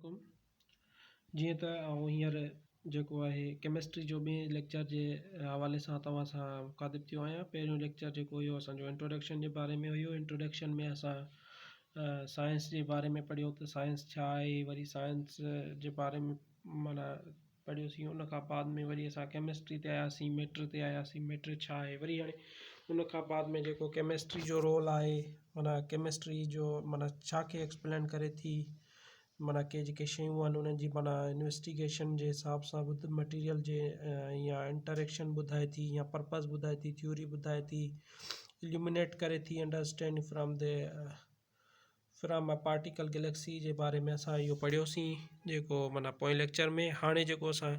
عليڪم جيئن ته آئون هينئر جيڪو آهي ڪيمسٽري جو ٻئي ليڪچر جي حوالي سان توهان سان مخاطب ٿيو آهيان پهريون ليڪچر جيڪو هيو اسانجو انٽروڊڪشن جي باري ۾ هيو انٽروڊڪشن ۾ اسان سائنس جي باري ۾ پڙهيو ته سائنس ڇا آهي وري سائنس جي باري ۾ معنيٰ پڙهيوسين ان کان بعد ۾ وري اسان ڪيمسٽري تي آياسين ميٽر تي آياسين ميٽر ڇا آهي وري هاڻي ان کان بعد ۾ جيڪو ڪيمسٽري جو رول آهي معنيٰ ڪيمسٽري جو معنيٰ ڇا کي ايڪسپلين ڪري ٿي معنيٰ ڪي جيڪي شيون آهن انهن جي معنيٰ انويسٽيگيشن جي حساب سان ٻڌ مٽيريل جي يا انٽريڪشن ٻڌائي ٿي يا پرپز ٻڌائي ٿي ٿيوري ٻڌائي ٿي اليومنيٽ ڪري ٿي understand from the from a particle galaxy جي باري ۾ اسان اهو پڙهيوسين جيڪو معنيٰ پوئين ليڪچر ۾ هاڻي جيڪو اسان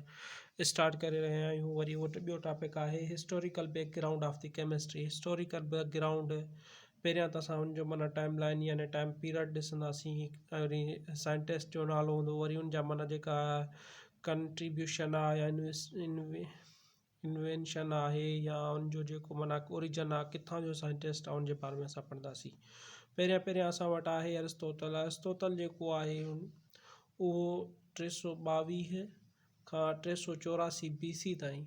اسٽارٽ ڪري رهيا آهيون وري اهو ٻيو ٽاپڪ آهي historical background of the chemistry historical background پهريان ته اسان ان جو معنيٰ ٽائم لائن يعنی ٽائم پيريڊ ڏسنداسين وري سائنٽسٽ جو نالو هوندو وري ان جا معنيٰ جيڪا ڪنٽريبيوشن آهي يعنی انوينشن آهي يا ان جو جيڪو معنيٰ اوريجن آهي ڪٿان جو سائنٽسٽ آهي ان جي باري ۾ اسان پڙهنداسين پهريان پهريان اسان وٽ آهي ارسطوطل ارسطوطل جيڪو آهي اهو ٽي سو ٻاويهه کان ٽي سو چوراسي بي سي تائين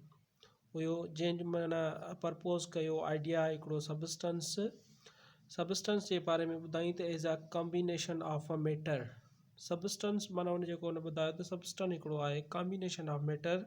هيو جنهن جي معنيٰ پرپوز ڪيو آئيڊيا هڪڙو سبسٽنس سبسٽنس جي باري ۾ ٻڌائين ته as a combination of a matter substance معنيٰ ان جيڪو ان ٻڌايو ته سبسٽن هڪڙو آهي ڪامبينيشن آف ميٽر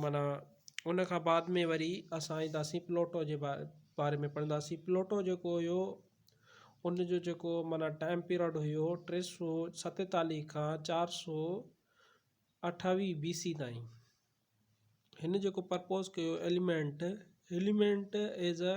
معنيٰ ان کان بعد ۾ وري اسان اينداسين پلوٽو جي با باري ۾ پڙهنداسين پلوٽو جيڪو هيو ان جو جيڪو معنيٰ ٽائم پيرڊ هيو ٽي سو ستيتاليهه کان چار سو اٺاويهه بي سي تائين هن جيڪو پرپوز ڪيو ايليمينٽ ايليمينٽ ايز ا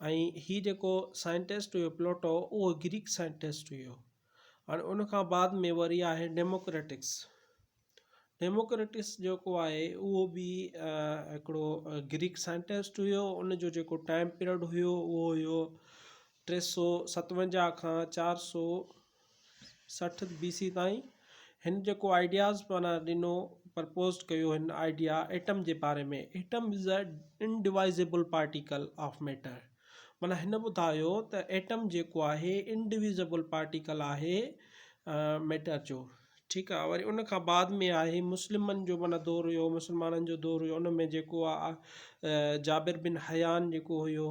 ۽ هي جيڪو سائنٽسٽ هيو پلوٽو اهو گريڪ سائنٽسٽ هيو هاڻي ان کان بعد ۾ وري آهي ڊيموڪريٽڪس ڊيموڪريٽس جيڪو آهي اهو به هڪڙو گريڪ سائنٽسٽ هيو ان جو جيڪو ٽائيم پيرڊ هيو اهو هيو ٽي سو ستونجاهه کان چار سو سٺ بي سي تائين هن جيڪو آئيڊياز معنيٰ ڏنو پرپوزڊ ڪيو هن آئيڊيا ايٽم جي باري ۾ atom is a indivisible particle of matter معنيٰ هن ٻڌايو ته ايٽم جيڪو آهي انڊويزيبل پارٽيڪل آهي ميٽر جو ٺيڪ آهي وري ان کان بعد ۾ آهي مسلمن جو معنيٰ دور هيو مسلمانن جو دور هيو ان ۾ جيڪو آهي جابر بن حيان جيڪو هيو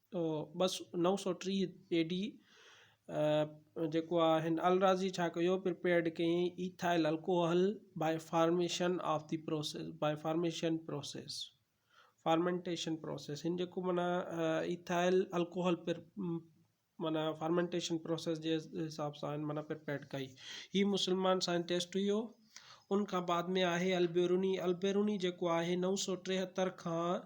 ٻه سؤ نو سؤ ٽيهه اي ڊي جيڪو آهي هن الرازي ڇا ڪيو پرپيئرڊ ڪيئي ethyl alcohol by formation of the process by formation process fermentation process هن جيڪو معنيٰ ايٿائل الڪوهل پر معنيٰ فارمينٽيشن پروسيس جي حساب سان هن معنيٰ پرپيئرڊ ڪئي هي مسلمان سائنٽسٽ هيو ان کان بعد ۾ آهي البيروني البيروني جيڪو آهي نو سؤ ٽيهتر کان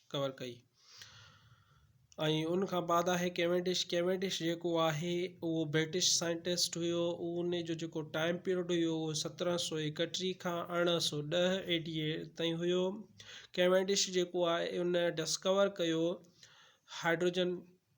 ڪور ڪئي ۽ ان کان بعد آهي ڪيونڊش ڪيونڊش جيڪو آهي اهو برٽش سائنٽسٽ هيو ان جو جيڪو ٽائم پيريڊ هيو اهو سترهن سو ايڪٽيهه کان ارڙهن سو ڏهه اي ڊي اي تائين هيو ڪيونڊش جيڪو آهي ان ڊسڪور ڪيو هائيڊروجن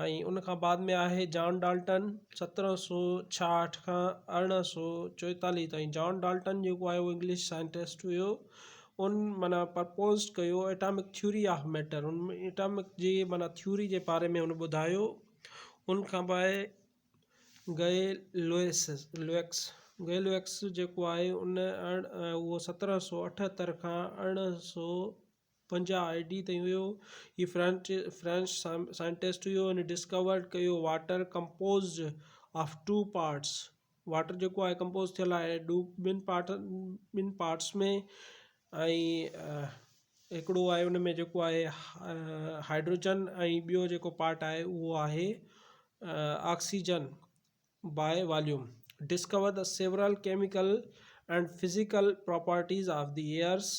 ۽ ان کان بعد ۾ آهي جان ڊالٽن سترهن سؤ ڇاهٺ کان ارڙهن سؤ چوئيتاليهه تائين جان ڊالٽن جيڪو آهي اهو انگلش سائنٽسٽ هيو ان معنيٰ پرپوزڊ ڪيو ايٽامڪ ٿيوري آف ميٽر ان ايٽامڪ جي معنيٰ ٿيوري جي باري ۾ ان ٻڌايو ان کان پوء گئي لوئس لوئڪس گئي لوئڪس جيڪو آهي ان اهو سترهن سؤ اٺهتر کان ارڙهن سؤ پنجاهه آء ڊي تائين هيو. هي فرينچ فرينچ سائنٽسٽ هيو. هن ڊسڪورڊ ڪيو water composed of two parts water جيڪو آهي ڪمپوز ٿيل آهي ڏو ٻن پارٽ ٻن پارٽس ۾ ۽ هڪڙو آهي ان ۾ جيڪو آهي هائيڊروجن ۽ ٻيو جيڪو پارٽ آهي اهو آهي oxygen by volume discover the several chemical and physical properties of the airs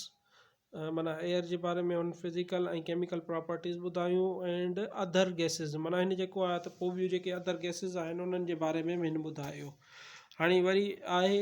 معنيٰ ايئر جي باري ۾ هن فزيڪل ۽ ڪيميڪل پراپرٽيز ٻڌايون اينڊ اڌر گيسز معنيٰ هن جيڪو آهي ته پوء ٻيون جيڪي اڌر گيسز آهن انهن جي باري ۾ به هن ٻڌايو هاڻي وري آهي